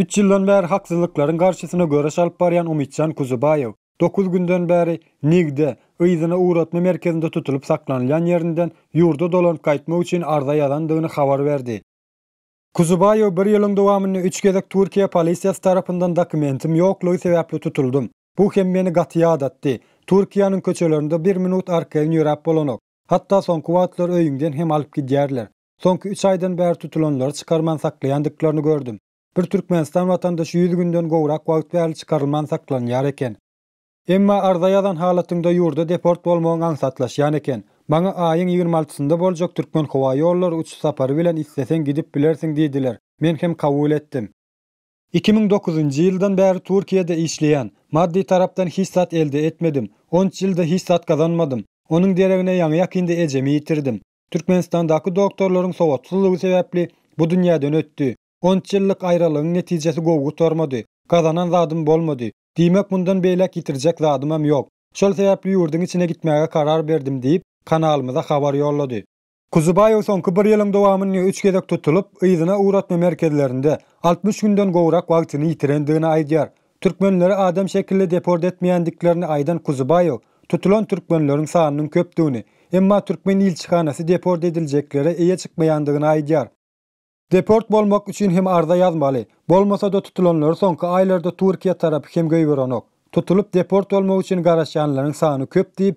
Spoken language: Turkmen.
Üç ýyldan bäri haksyzlyklaryň garşysyna göreş alyp barýan Umytjan Kuzubaýew dokuz günden bäri Nigde, yzyna ugratma merkezinde tutulyp saklanylýan ýerinden ýurda dolanyp gaýtmak üçin arza ýazandygyny habar berdi. Kuzubaýew bir ýylyň dowamynda üç gezek Türkiýe polisiýasy tarapyndan dokumentim ýoklugy sebäpli tutuldym. Bu hem meni gaty ýadatdy. Türkiýäniň köçelerinde bir minut arkaýyn ýöräp bolanok. Hatda soňky wagtlar öýüňden hem alyp gidýärler. Soňky üç aýdan bäri tutulanlary çykarman saklaýandyklaryny gördüm. Bir türkmenistan watandaşy ýüz günden gowrak wagt bäri çykarylman saklanýar eken. Emma arza ýazan halatyňda ýurda deport bolmagyň aňsatlaşýan eken. Maňa aýyň ýigrimi altysynda boljak Türkmenhowaýollary uçuş sapary bilen isleseň gidip bilersiň diýdiler, men hem kabul etdim. Iki müň dokuzynjy ýyldan bäri Türkiýede işleýän. Maddy tarapdan hiç zat elde etmedim. On üç ýylda hiç zat gazanmadym. Onuň deregine ýaňy-ýakynda ejemi ýitirdim. Türkmenistandaky doktorlaryň sowatsyzlygy sebäpli bu dünýäden ötdi. On üç ýyllyk aýralygyň netijesi gowy gutarmady. Gazanan zadym bolmady. Diýmek, mundan beýläk ýitirjek zadymam ýok. Şol sebäpli ýurduň içine gitmäge karar berdim diýip, kanalymyza habar ýollady. Kuzubaýew soňky bir ýylyň dowamynda üç gezek tutulyp, yzyna ugratma merkezlerinde altmyş günden gowrak wagtyny ýitirendigini aýdýar. Türkmenleri adam şekilli deport etmeýändiklerini aýdan Kuzubaýew, tutulan türkmenleriň sanynyň köpdügini, emma türkmen ilçihanasy deport ediljeklere eýe çykmaýandygyny aýdýar. Deport bolmak üçin hem arza ýazmaly, bolmasa-da tutulanlary soňky aýlarda Türkiýe tarapy hem goýberenok. Tutulyp deport bolmak üçin garaşýanlaryň sany köp diýip,